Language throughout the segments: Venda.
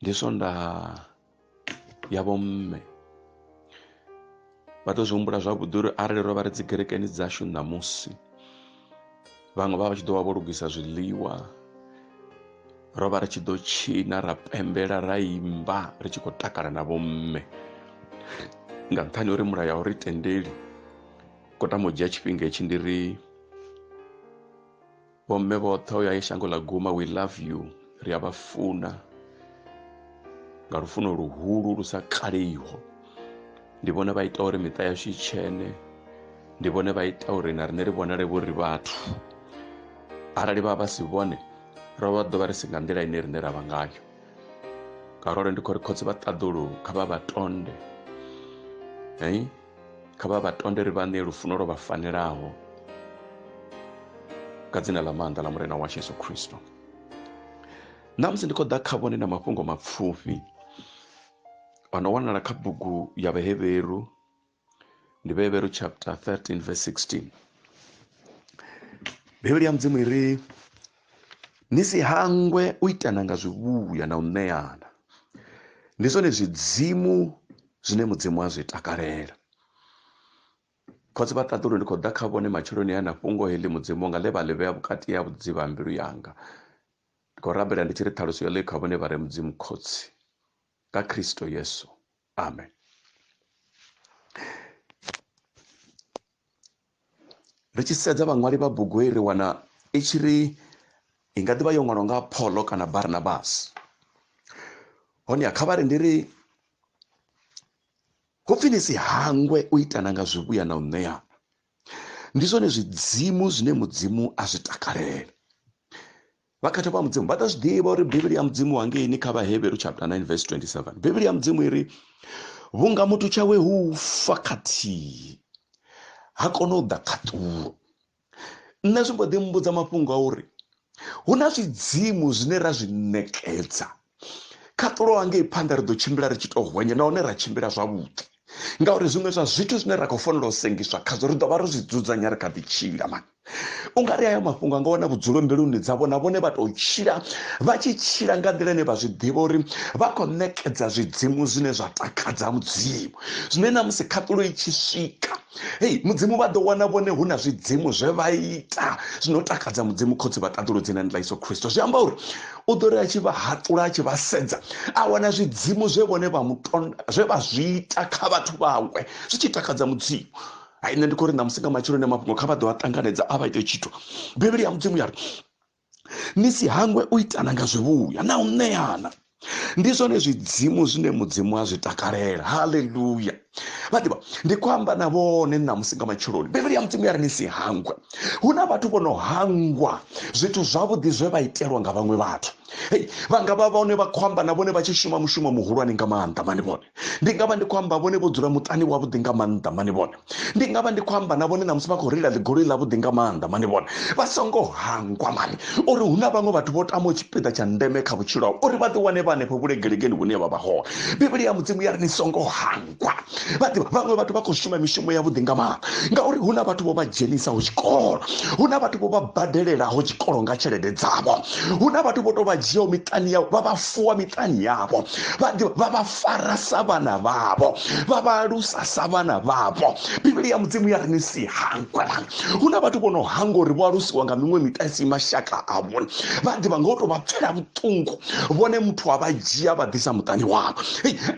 ndi swondaha ya vhomme vha ḓo zwi humbula zwavhuḓi uri arali ro vha ri dzi kerekeni dzashu ṋamusi vhaṅwe vha vha tshi ḓo vha vho lugisa zwiḽiwa ro vha ri tshi ḓo tshina ra pembela ra imba ri tshi khou takala na vhomme nga nṱhani uri mulayo a uri tendeli kotama u dzhia tshifhinga hetshi ndi ri vhomme vhoṱhe o ya i shango ḽa guma we love you ri a vha funa nga lufuno luhulu lu sa kaleiho ndi vhone vha ita uri miṱa yashu i tshene ndi vhone vha ita uri na riṋe ri vhonale vho ri vhathu arali vha vha si vhone ro vha ḓo vha ri si nga nḓila ine riṋe ra vha ngayo ngauralo ndi khou ri khotsi vha ṱaḓulu kha vha vha tonde hei kha vha vha tonde ri vha ṋee lufuno lwo vha fanelaho nga dzina ḽa maanḓa ḽa murena washu yesu khristo ṋamusi ndi khou ḓa kha vhone na mafhungo mapfufhi a no wanala kha bugu ya vhehevheru ndi vhehevheru chapter 13 verse 16 bivhili ya mudzimu i ri ni si hangwe u itana nga zwivhuya na u ṋeana ndi zwone zwidzimu zwine mudzimu a zwi takalela khotsi vha ṱaḓulu ndi khou ḓa kha vhone matsheloni a na fhungo heḽi mudzimu nga ḽe vha ḽi vhea vhukati ya vhudzivha mbilu yanga ndi khou rabela ndi tshi ri ṱhaluso yo ḽi kha vhone vha re mudzimu khotsi nga khristo yesu amen ri tshi sedza vhaṅwali vha bugu heyi ri wana i tshi ri i nga ḓivha yo ṅwalwa nga pholo kana barnabas honeha kha vha ri ndi ri hupfi ni si hangwe u itana nga zwivhuya na u ṋea ndi zwone zwidzimu zwine mudzimu a zwi takalela vhakhetha vha mudzimu vha ḓa zwi ḓivha uri bivhili ya mudzimu hangeini kha vhaheberu chapter 9 verse 27 bivhili ya mudzimu i ri vhunga muthu tshawe hu fa khathihi ha kona u ḓa khaṱulo nṋe zwi mbo ḓi mbudza mafhungo a uri hu na zwidzimu zwine ra zwi ṋekedza khaṱulo hangei phanḓa ri ḓo tshimbila ri tshi to hwenya nahone ra tshimbila zwavhuḓi ngauri zwiṅwe zwa zwithu zwine ra khou fanela u sengiswa khazwo ri ḓovha ro zwi dzudzanya ri kha ḓi tshila mani u nga ri hayo mafhungo a nga wana vhudzulo mbiluni dzavho na vhone vha tou tshila vha tshi tshila nga nḓila ine vha zwi ḓivha uri vha khou ṋekedza zwidzimu zwine zwa takadza mudzimu zwine na musi khaṱulo i tshi swika hei mudzimu vha ḓo wana vhone hu na zwidzimu zwe vha ita zwino takadza mudzimu khotsi vha ṱaḓulu dzina ni ḽa iso khristo zwi amba uri u ḓo ri a tshi vha haṱula a tshi vha sedza a wana zwidzimu zwe vhone vha mutonda zwe vha zwi ita kha vhathu vhawe zwi tshi takadza mudzimu hai nṋe ndi khou ri ṋamusi nga matsheloni a mafhungo kha vha ḓo a ṱanganedza a vha ite tshithu bivhili ya mudzimu ya ri ni si hangwe u itana nga zwivhuya na u ṋeana ndi zwone zwidzimu zwine mudzimu a zwi takalela haleluya vha ḓivha ndi khou amba na vhone ṋamusi nga matsheloni bivhili ya mudzimu ya ri ni si hangwe hu na vhathu vho no hangwa zwithu zwavhuḓi zwe vha itelwa nga vhaṅwe vhathu hei vha nga vha vhone vha khou amba na vhone vha tshi shuma mushumo muhulwane nga maanḓa mani vhone ndi nga vha ndi khou amba vhone vho dzula muṱani wavhuḓi nga maanḓa mani vhone ndi nga vha ndi khou amba na vhone ṋamusi vha khou reila ḽigoloi ḽavhuḓi nga maanḓa mani vhone vha songo hangwa mani uri hu na vhaṅwe vhathu vho tamaho tshipiḓa tsha ndeme kha vhutshilo havho uri vha ḓiwane vha hanefho vhulegelegeni hune vha vha hone bivhili ya mudzimu ya ri ni songo hangwa vhaḓivha vhaṅwe vhathu vha khou shuma mishumo yavhuḓi nga maanḓa ngauri hu na vhathu vho vha dzhenisaho tshikolo hu na vhathu vho vha badelelaho tshikolo nga tshelede dzavho hu na vhathu vho tou vha dzhiaho miṱani yavho vha vha fuwa miṱani yavho vhaḓivha vha vha fara sa vhana vhavho vha vha alusa sa vhana vhavho bivhili ya mudzimu ya ri ni si hangwe hu na vhathu vho no hangwa uri vho alusiwa nga miṅwe miṱa isi mashaka avho vhaḓivha nga u tou vha pfela vhuṱungu vhuṱungu vhone muthu wa vha dzhia vha ḓisa muṱani wavho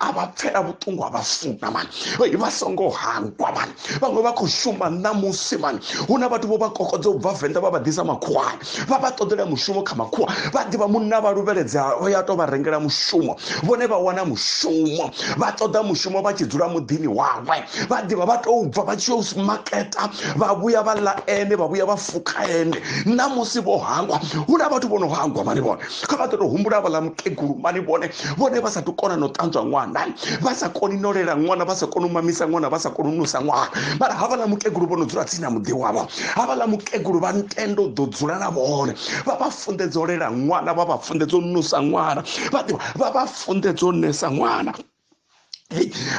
a vha pfela vhuṱungu a vha funa mani vha songo hangwa mani vhaṅwe vha khou shuma ṋamusi mani hu na vhathu vho vha kokodza u bva venḓa vha vha ḓisa makhuwani vha vha ṱoḓela mushumo kha makhuwa vha ḓivha munna vha luvheledza o ya tou vha rengela mushumo vhone vha wana mushumo vha ṱoḓa mushumo vha tshi dzula muḓini wawe vha ḓivha vha tou bva vha tshi yo maketa vha vhuya vha ḽa ene vha vhuya vha pfuka ende ṋamusi vho hangwa hu na vhathu vho no hangwa mani vhone kha vha ḓo to humbula vhaḽa mukegulu mani vhone vhone vha sa tu kona no ṱanzwa ṅwana vha sa koni no lela ṅwana vha sa koni u mamisa ṅwana vha sa koni u nusa ṅwana mara havhaḽa mukegulu vho no dzula tsini na muḓi wavho havhaḽa mukegulu vha ntendo u ḓo dzula na vhone vha vha funḓedza u lela ṅwana vha vha funḓedza u nusa ṅwana vha ḓivha vha vha funḓedza u nesa ṅwana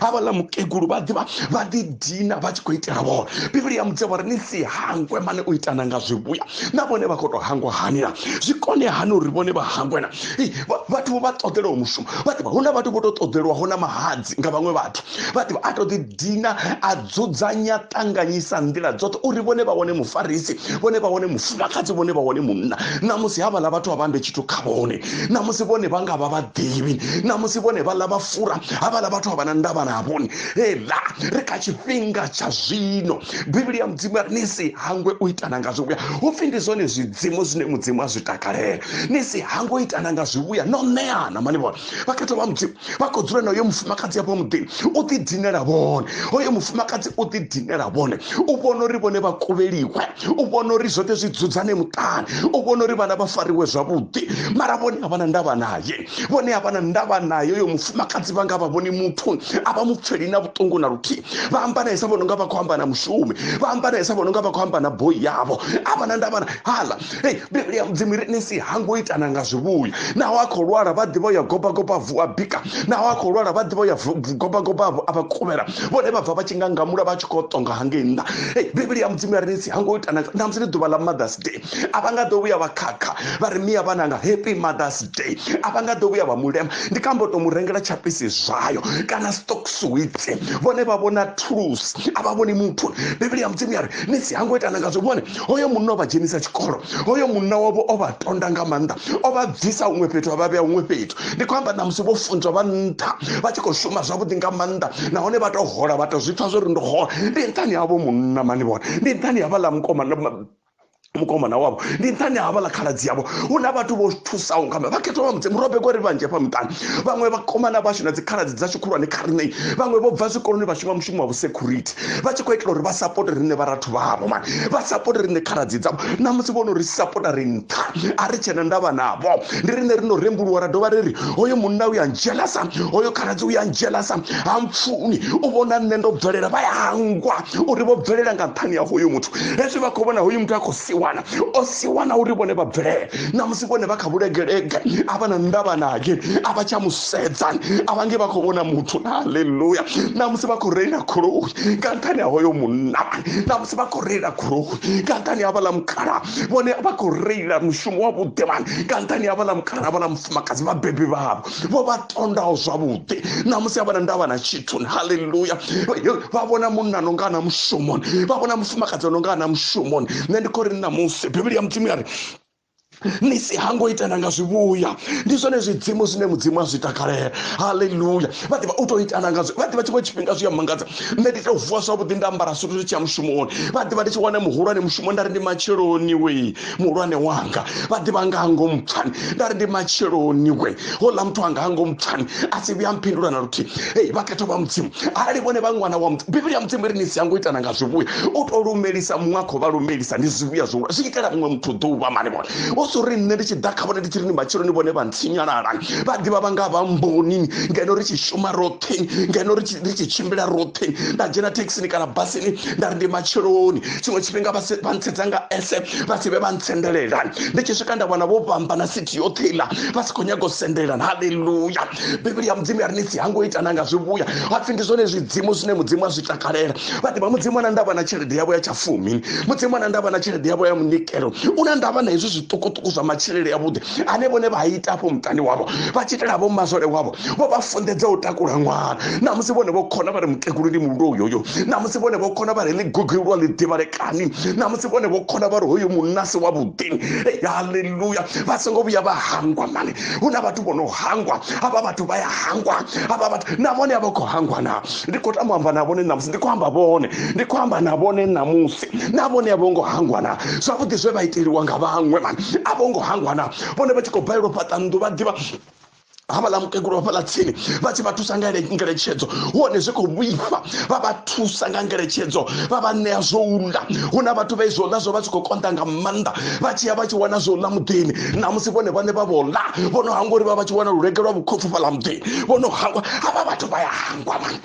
havhaḽa mukegulu vha ḓivha vha ḓi dina vha tshi khou itela vhona bivhili ya mudzea vhari ni si hangwe mane u itana nga zwivhuya na vhone vha khou tou hangwa hanila zwi kone hani uri vhone vha hangwena vhathu vho vha ṱoḓelaho mushumo vha ḓivha hu na vhathu vho tou ṱoḓelwaho na mahadzi nga vhaṅwe vhathu vha ḓivha a to ḓi dina a dzudzanya ṱanganyisa nḓila dzoṱhe uri vhone vha wane mufarisi vhone vha wane mufumakadzi vhone vha wane munna namusi havhaḽa vhathu a vha mbe tshithu kha vhone namusi vhone vha nga vha vhaḓivhi namusi vhone vhaḽa vha fura havhaḽa vhathu a vha na ndavha na vhone heḽa ri kha tshifhinga tsha zwino bivhili ya mudzimu yari ni si hangwe u itana nga zwivhuya hu pfhi ndi zwone zwidzimu zwine mudzimu a zwi takalela ni si hangwe u itana nga zwivhuya no ṋeana mani vhona vhakhetho vha mudzimu vha khou dzula na uyo mufumakadzi ya muḓini u ḓi dinela vhone hoyo mufumakadzi u ḓi dinela vhone u vhona uri vhone vha kuvheliwe u vhona uri zwoṱhe zwi dzudzane muṱani u vhona uri vhana vha fariwe zwavhuḓi mara vhone a vha na ndavha naye vhone a vha na ndavha naye uyo mufumakadzi vha nga vha vhoni muthu a vha mupfheli na vhuṱungu na luthihi vha amba naisa vhono nga vha khou amba na mushumi vha amba naisa vhono nga vha khou amba na boi yavho a vha na ndavha hala hei bivhili ya mudzimu ri nisi ha ngo itana nga zwivhuya naho a khou lwala vha ḓivha ya goba goba vu a bika naho a khou lwala vha ḓivha ya goba goba a vha kuvhela vhone vha bva vha tshi nga ngamula vha tshi khou tonga hangei nnḓa hei bivhili ya mudzimu ya ri nisi ha ngo itana na musi ndi ḓuvha ḽa mothers day a vha nga ḓo vhuya vha khakha vha ri miya vhananga happy mothers day a vha nga ḓo vhuya vha mulema ndi kha mbo to mu rengela tshapisi zwayo kana stock suwitsi vhone vha vhona thulusi a vha vhoni muthu bivhili ya mudzimu ya ri nisi ha ngo itana nga zwivhone hoyo munna o vha dzhenisa tshikolo hoyo munna wavho o vha tonda nga maanḓa o vha bvisa huṅwe fhethu a vha vhea huṅwe fhethu ndi khou amba namusi vho funzwa vha nṱha vha tshi khou shuma zwavhuḓi nga maanḓa nahone vha tou hola vha tou zwi pfha zwo ri ndo hola ndi nṱhani havho munna mani vhona ndi nṱhani havha ḽa mukoma mukomana wavho ndi nṱhani ha vhala khaladzi yavho hu na vhathu vho thusaho nga vha khethwa vha mudzimu robe kori vhanzhi hafha muṱani vhaṅwe vhakomana vhashu na dzikhaladzi dzashu khulwane kha riṋei vhaṅwe vho bva zwikoloni vha shuma mushumo wa vhusecurity vha tshi khou itela uri vha sapote riṋe vharathu vhavho mani vha sapote riṋe khaladzi dzavho na musi vhono ri sapota ri nṱha a ri tshena ndavha navho ndi riṋe ri no rembuluwa ra dovha ri ri hoyo munna uya ndzhelasa hoyo khaladzi uya ndzhelasa ha mpfuni u vhona nṋe ndo bvelela vha ya hangwa uri vho bvelela nga nṱhani ya hoyo muthu hezwi vha khou vhona hoyo muthu a khou siwana o siwana uri vhone vha bvelele na musi vhone vha kha vhulegelege a vha na ndavha nage a vha tsha sedzani a vha nge vha khou vhona muthu halleluya na musi vha khou reila goloi nga nṱhani ha hoyo munna na musi vha khou reila goloi nga nṱhani ha vhaḽa mukhala vhone vha khou reila mushumo wa vhuḓe mani nga nṱhani ha vhaḽa mukhala ha vhaḽa mufumakadzi vhabebi vhavho vho vha tondaho zwavhuḓi na musi a vha na ndavha na tshithu halleluya vha vhona munna no nga na mushumoni vha vhona mufumakadzi no nga na mushumoni nṋe ndi khou ri na musi bivhili ya mudzimu ya ri ni si hango itana nga zwivhuya ndi zwone zwidzimu zwine mudzimu a zwi takalela haleluya vha ḓivha u tou itana nga vha ḓivha tshiṅwe tshifhinga zwi a mangadza nṋe ndi tou vuwa zwavhuḓi nda ambara sutu ndi tshi ya mushumoni vha ḓivha ndi tshi wana muhulwane mushumo nda ri ndi matsheloni we muhulwane wanga vha ḓivha nga ngomu pfani nda ri ndi matsheloni we houḽa muthu anga hango mupfani a si vhuya mphindula na luthihi ei vhakhetho vha mudzimu arali vhone vha ṅwana wa muthu bivhili ya mudzimu ri ni si yango itana nga zwivhuya u to lumelisa muṅwe a khou vha lumelisa ndi zwivhuya zwo zwi itela muṅwe muthu ḓuvha mani vhone o so ri nṋe ndi tshi ḓa kha vhone ndi tshi ri ni matshiloni vhone vha ntsinyalala vha ḓivha vha nga vha mbonini ngeno ri tshi shuma roṱhe ngeno ri tshi tshimbila roṱhe nda dzhena thekhisini kana basini nda ri ndi matshiloni tshiṅwe tshifhinga vha ntsedza nga ese vha si vhe vha ntsendelela ndi tshi swika nda wana vho vhamba na fhethu yoṱhe iḽa vha si khou nyaga u sendelelana haleluya bivhili ya mudzimu ya ri ni si hango itana nga zwivhuya hapfhi ndi zwone zwidzimu zwine mudzimu a zwi takalela vha ḓivha mudzimu ana ndavha na tshelede yavho ya tshafumi mudzimu ana ndavha na tshelede yavho ya munikelo u na ndavha na hezwi zwiṱukuṱuku zwa matshilele yavhuḓi ane vhone vha ita afho muṱani wavho vha tshi itela vho masole wavho vho vha funḓedza u takula ṅwana na musi vhone vho khona vha ri mukegulu ndi mulilo uyoyo na musi vhone vho khona vha ri ḽigugulwa ḽi ḓivhalekani na musi vhone vho khona vha ri hoyo munnasi wavhuḓi haleluya haleluya vha songo vhuya vha hangwa mani hu na vhathu vho no hangwa havha vhathu vha ya hangwa havha vhathu na vhone a vha khou hangwa na ndi khou tama amba na vhone ṋamusi ndi khou amba vhone ndi khou amba na vhone ṋamusi na vhone a vho ngo hangwa na zwavhuḓi zwe vha iteliwa nga vhaṅwe mani a vho ngo hangwa na vhone vha tshi khou balelwa fhaṱa nnḓu vha ḓivha havhaḽa mukegulu vha fhaḽa tsini vha tshi vha thusa nga ngeletshedzo hone zwi khou vhifha vha vha thusa nga ngeletshedzo vha vha ṋea zwo ula hu na vhathu vha izwo ḽa zwo vha tshi khou konḓa nga maanḓa vha tshi ya vha tshi wana zwo ḽa muḓini na musi vhone vhane vha vho ḽa vho no hangwa uri vha vha tshi wana lulegelwa vhukhopfu fhaḽa muḓini vho no hangwa havha vhathu vha ya hangwa mani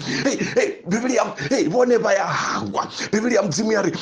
bivhili ya vhone vha ya hangwa bivhili ya mudzimu ya ri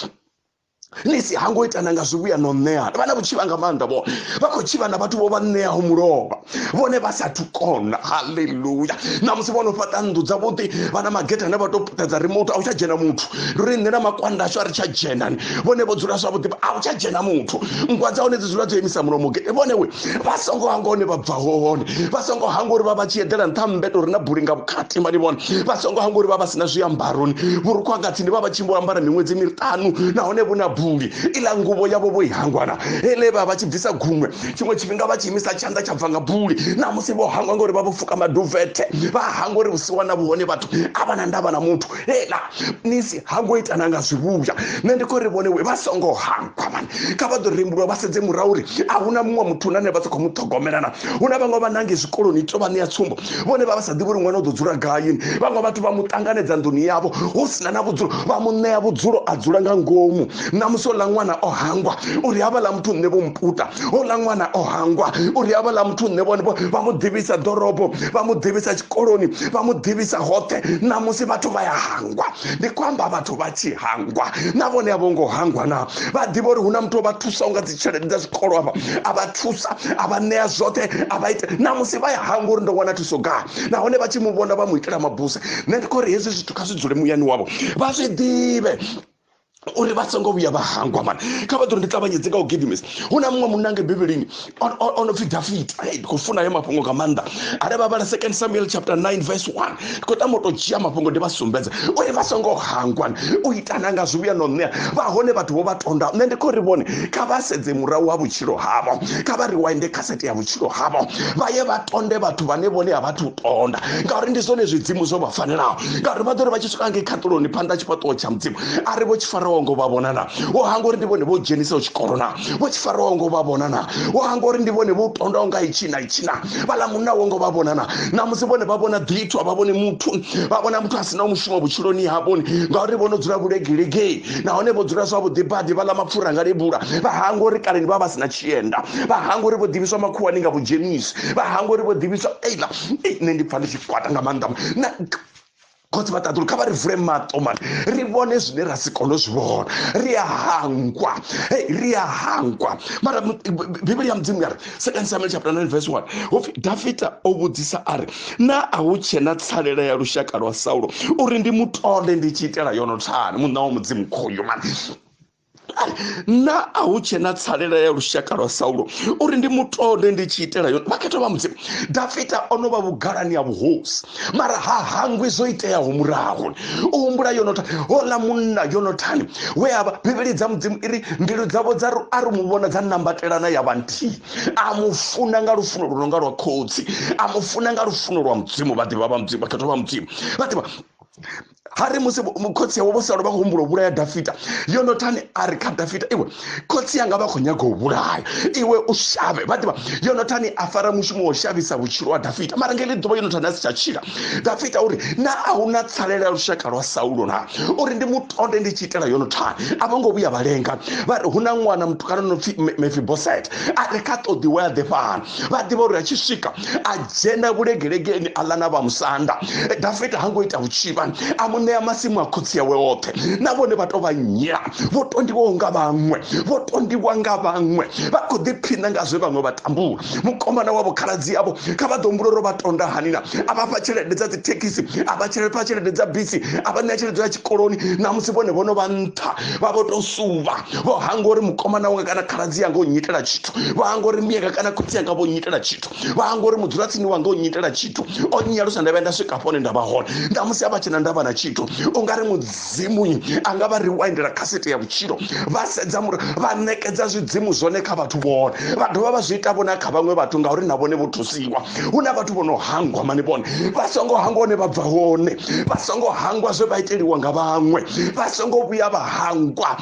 nisi ha ngo itana nga zwivhuya no ṋeana vha na vhutshivha nga maanḓa vho vha khou tshivha na vhathu vho vha ṋeaho mulovha vhone vha sathu kona haleluya na musi vho no fhaṱa nnḓu dzavhuḓi vha na mageta ane vha tou puṱedza remote a u tsha dzhena muthu ndi uri nṋe na makwanda ashu a ri tsha dzhenani vhone vho dzula zwavhuḓi a u tsha dzhena muthu nngwa dza hone dzi dzula dzo imisa mulomo gete vhone we vha songo hanga hone vha bva hone vha songo hanga uri vha vha tshi eḓela nṱha mmbete uri na buli nga vhukati mani vhone vha songo hanga uri vha vha si na zwiambaroni vhurukhu hanga tsini vha vha tshimbo ambara miṅwedzi miṱanu nahone vhu na buli iḽa nguvho yavho vho i hangwana hele vha vha tshi bvisa guṅwe tshiṅwe tshifhinga vha tshi imisa tshanḓa tsha bva nga buli na musi vho hangwa ngauri vha vho fuka maduvethe vha hangwa uri vhusiwana vhuhone vhathu a vha na ndavha na muthu lela nisi ha ngo ita na nga zwivhuya nṋe ndi khou ri vhone we vha songo hangwa mani kha vha ḓo rembulwa vha sedze murahu uri a hu na muṅwe muthu nane vha sa khou mu ṱhogomelana hu na vhaṅwe vha nange zwikoloni to vha ṋea tsumbo vhone vha vha sa ḓivhi uri ṅwana u ḓo dzula gayini vhaṅwe vhathu vha mu ṱanganedza nḓuni yavho hu sina na vhudzulo vha mu ṋea vhudzulo a dzula nga ngomu na musi ola ṅwana o hangwa uri havha ḽa muthu nṋe vho mputa ola ṅwana o hangwa uri havha ḽa muthu nṋe vhone vha mu ḓivhisa ḓorobo vha mu ḓivhisa tshikoloni vha mu ḓivhisa hoṱhe na musi vhathu vha ya hangwa ndi khou amba vhathu vha tshi hangwa na vhone a vho ngo hangwa na vha ḓivha uri hu na muthu o vha thusa unga dzi tshelede dza zwikolo avha a vha thusa a vha ṋea zwoṱhe a vha ita na musi vha ya hangwa uri ndo wana thuso gai nahone vha tshi mu vhona vha mu itela mabuse nṋe ndi khou ri hezwi zwithu kha zwi dzule muyani wavho vha zwi ḓivhe uri vha songo vhuya vha hangwa mani kha vha ḓo ndi ṱavhanyedze nga u gidimisa hu na muṅwe munna nga bivhilini o no pfhi dafita ndi khou funa yo mafhungo nga maanḓa are vha vhala second samuel chapter 9 verse 1 ndi khou tama u tou dzhia mafhungo ndi vha sumbedza uri vha songo hangwa u itana nga zwivhuya no ṋea vha hone vhathu vho vha tonda nṋe ndi khou ri vhone kha vha sedze murahu wa vhutshilo havho kha vha riwinde khasete ya vhutshilo havho vha ye vha tonde vhathu vhane vhone a vhathu u tonda ngauri ndi zwone zwidzimu zwo vha fanelaho ngauri vha ḓo ri vha tshi swika ngei khaṱuloni phanḓa tshifhaṱuwo tsha mudzimu a ri vho tshi faraho ngo vha vhona na wo hanga uri ndi vhone vho dzhenisaho tshikolo na vho tshi faraho ngo vha vhona na wo hanga uri ndi vhone vho tondaho nga itshi na itshi na vhaḽa munna wo ngo vha vhona na namusi vhone vha vhona ḓithu a vha vhone muthu vha vhona muthu a si na mushumo vhutshiloni havhoni ngauri vho no dzula vhulegelegei nahone vho dzula zwavhuḓi badi vhaḽa mapfura nga lebula vha hanga uri kaleni vha vha si na tshienda vha hanga uri vho ḓivhiswa makhuwani nga vhudzhenisi vha hanga uri vho ḓivhiswa eila nṋe ndi pfa ndi tshi kwata nga maanḓa na khotsi vha ṱaḓulu kha vha ri vule maṱo mani ri vhone zwine ra si kone u zwi vhona ri a hangwa hey ri a hangwa mara bivhili ya mudzimu yari second samuel chapter 9 verse 1 hopfi dafita o vhudzisa a ri na a hu tshe na tsalela ya lushaka lwa saulo uri ndi mutole ndi tshi itela yono thani munna wa mudzimu khoyo mani na a hu tshe na tsalela ya lushaka lwa saulo uri ndi mutonde ndi tshi itela yone vhakhetha vha mudzimu dafita o no vha vhugalani ya vhuhosi mara ha hangwi zwo iteaho murahu u humbula yonota hola munna yonotani we a vha bivhili dza mudzimu i ri mbilu dzavho dza a ri mu vhona dza nambatelana ya vha nthihi a mu funa nga lufuno lu no nga lwa khotsi a mu funa nga lufuno lwa mudzimu vhaḓivha vha mudzimu vhakhetha vha mudzimu vhaḓivha ha ri musi khotsi yawe vho sala vha khou humbula u vhulaya dafita yonothani a ri kha dafita iwe khotsi yanga vha khou nyaga u vhulaya iwe u shavhe vha ḓivha yonothani a fara mushumo wa u shavhisa vhutshilo ha dafita mara ngeli ḓuvha yonothani a si tsha tshila dafita uri na a hu na tsalela lushaka lwa saulo na uri ndi mutonde ndi tshi itela yonothani a vho ngo vhuya vha lenga vha ri hu na ṅwana mutukana no pfi mefiboset a ri kha ṱoḓiwe a ḓe fhano vha ḓivha uri a tshi swika a dzhena vhulegelegeni a ḽa na vha musanda dafita ha ngo ita vhutshivha a mu ṋea masimu a khotsi yawe oṱhe na vhone vha tou vha nyela vho tondiwaho nga vhaṅwe vho tondiwa nga vhaṅwe vha khou ḓiphina nga zwe vhaṅwe vha tambula mukomana wavho khaladzi yavho kha vha ḓo humbula uri vha tonda hani na a vha fha tshelede dza dzithekhisi a vha tshelede fha tshelede dza bisi a vha ṋea tshelede ya tshikoloni na musi vhone vhono vha nṱha vha vho tou suvha vho hangwa uri mukomana wanga kana khaladzi yanga u nyitela tshithu vha anga uri miyanga kana khotsi yanga vho nnyitela tshithu vha anga uri mudzulatsini wanga o nnyitela tshithu o nnyalusa nda vhuya nda swika hafho hone nda vha hone nda musi a vha tshena nda vha na tshithu u nga ri mudzimunyi a nga vha riwindela khasete ya vhutshilo vha sedza mura vha ṋekedza zwidzimu zwone kha vhathu vhone vha dovha vha zwi ita vhone kha vhaṅwe vhathu ngauri na vhone vho thusiwa hu na vhathu vho no hangwa mani vhone vha songo hangwa hone vha bva hone vha songo hangwa zwe vha iteliwa nga vhaṅwe vha songo vhuya vha hangwa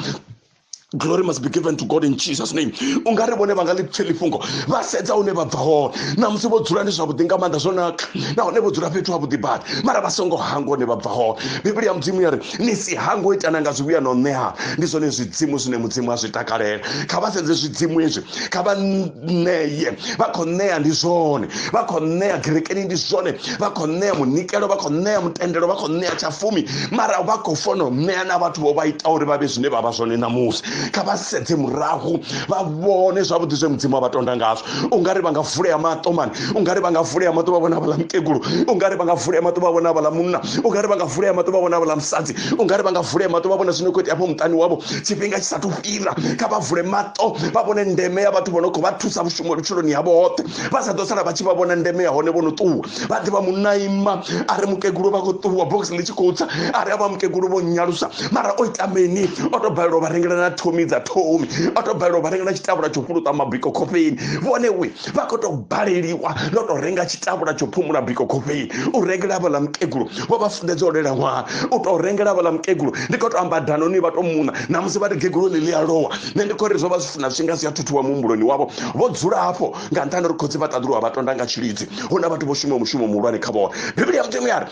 glory must be given to god in jesus name u nga ri vhone vha nga ḽi pfheli fhungo vha sedza hune vha bva hone na musi vho dzula ndi zwavhuḓi nga maanḓa zwo naka nahone vho dzula fhethu havhuḓi badi mara vha songo hanga hune vha bva hone bivhili ya mudzimu ya ri ni si hango itana nga zwivhuya na u ṋeana ndi zwone zwidzimu zwine mudzimu a zwi takalela kha vha sedze zwidzimu ezwi kha vha ṋeye vha khou ṋea ndi zwone vha khou ṋea gerekeni ndi zwone vha khou ṋea munikelo vha khou ṋea mutendelo vha khou ṋea tshafumi mara vha khou fona u ṋea na vhathu vho vha ita uri vha vhe zwine vha vha zwone ṋamusi kha vha sedze murahu vha vhone zwavhuḓi zwe mudzimu a vha tonda ngazwo u nga ri vha nga vulea maṱo mani u nga ri vha nga vulea maṱo vha vhona vhaḽa mukegulu u nga ri vha nga vulea maṱo vha vhona vhaḽa munna u nga ri vha nga vulea maṱo vha vhona vhaḽa musadzi u nga ri vha nga vulea maṱo vha vhona zwino khou itea afho muṱani wavho tshifhinga tshi sathu fhira kha vha vule maṱo vha vhone ndeme ya vhathu vho no khou vha thusa vhushumo vhutshiloni havho hoṱhe vha sa ḓo sala vha tshi vha vhona ndeme ya hone vho no ṱuwa vha ḓivha munaima a ri mukegulu vha khou ṱuwa box ḽi tshi khou tsa a ri a vha mukegulu vho nyalusa mara o ita mini o tou balelwa vha rengela na thomi dza thomi o tou balelwa vha rengela tshitavhula tsho fhuluṱa mabiko khofheni vhone we vha khou tou baleliwa no tou renga tshitavhula tsho phumula biko khofhei u rengela vhaḽa mukegulu vho vha funḓedza u lela ṅwaha u tou rengela vhaḽa mukegulu ndi khou tou amba danoni vha tou muṋa na musi vha ri gegulu ḽi ḽi a lowa nṋe ndi khou ri zwo vha zwi funa zwinga zwi a thuthuwa muhumbuloni wavho vho dzula hafho nga nṱhani uri khotsi vha ṱaḓuluwa vha tonda nga tshilidzi hu na vhathu vho shumaho mushumo muhulwane kha vhone bivhili ya mudzimu ya ri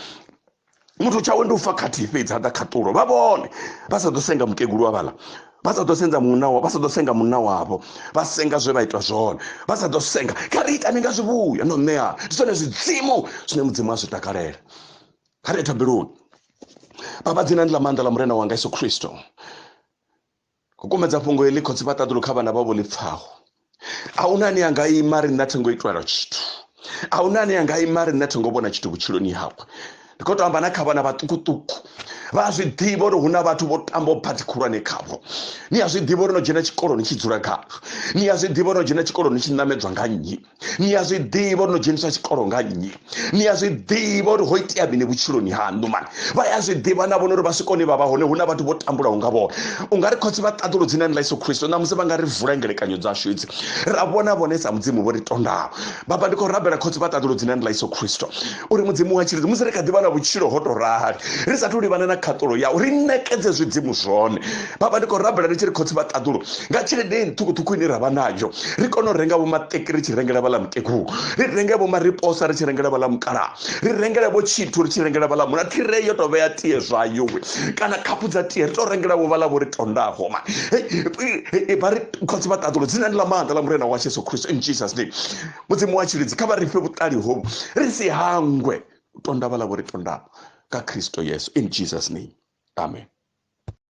muthu tshawe ndi u fa khathihi fhedzi ha ḓa khaṱulo vha vhone vha sa ḓo senga mukegulu wa vhala vha sa ḓo senza munna wavho vha sa ḓo senga munna wavho vha senga zwe vha ita zwone vha sa ḓo senga kha ri itani nga zwivhuya no ṋeana ndi zwone zwidzimu zwine mudzimu a zwi takalela kha ri thabeloni baba dzinani ḽa maanḓa ḽa murena wanga yesu khristo u kumedza fhungo heḽi khotsi vha ṱaḓulu kha vhana vhavho ḽi pfaho a huna ane anga ima ri nṋe thengo itwela tshithu a huna ane anga ima ri nṋe thengo vhona tshithu vhutshiloni hawe ndi khou to amba na kha vhana vhaṱukuṱuku vha zwi ḓivha uri hu na vhathu vho tambaho phathi khulwane khavho ni a zwi ḓivha uri no dzhena tshikoloni tshi dzula kha ni a zwi ḓivha uri no dzhena tshikoloni tshi ṋamedzwa nga nnyi ni a zwi ḓivha uri no dzheniswa tshikolo nga nnyi ni a zwi ḓivha uri ho itea mini vhutshiloni haṋu mani vha ya zwi ḓivha na vhona uri vha swikoni vha vha hone hu na vhathu vho tambulaho nga vhone u nga ri khotsi vha ṱaḓulo dzinani ḽa yesu khristo ṋamusi vha nga ri vula ngelekanyo dzashu idzi ra vhona vhone sa mudzimu vho ri tondaho baba ndi khou rabela khotsi vha ṱaḓulo dzinani ḽa yesu khristo uri mudzimu wa tshilidzi musi ri kha ḓivha na vhutshilo ho tou rali ri sathu livhana na khaṱulo yau ri nekedze zwidzimu zwone baba ndi khou rabela ri tshi ri khotsi vha ṱaḓulo nga tshelede i ṱhukhuṱhukhu ine ra vha nayo ri kone u renga vho maṱeki ri tshi rengela vhaḽa mukegulu ri renge vho mariposa ri tshi rengela vhaḽa mukala ri rengele vho tshithu ri tshi rengela vhaḽa muna thire yo tou vhea tie zwayo we kana khaphu dza tie ri tou rengela vho vhaḽa vho ri tondaho ma vha ri khotsi vha ṱaḓulo dzinani ḽa maanḓa ḽa murena wa jesu kristo in jesus name mudzimu wa tshilidzi kha vha ri fhe vhuṱali hovhu ri si hangwe u tonda vhaḽa vho ri tondaho nga kristo yesu in jesus name amen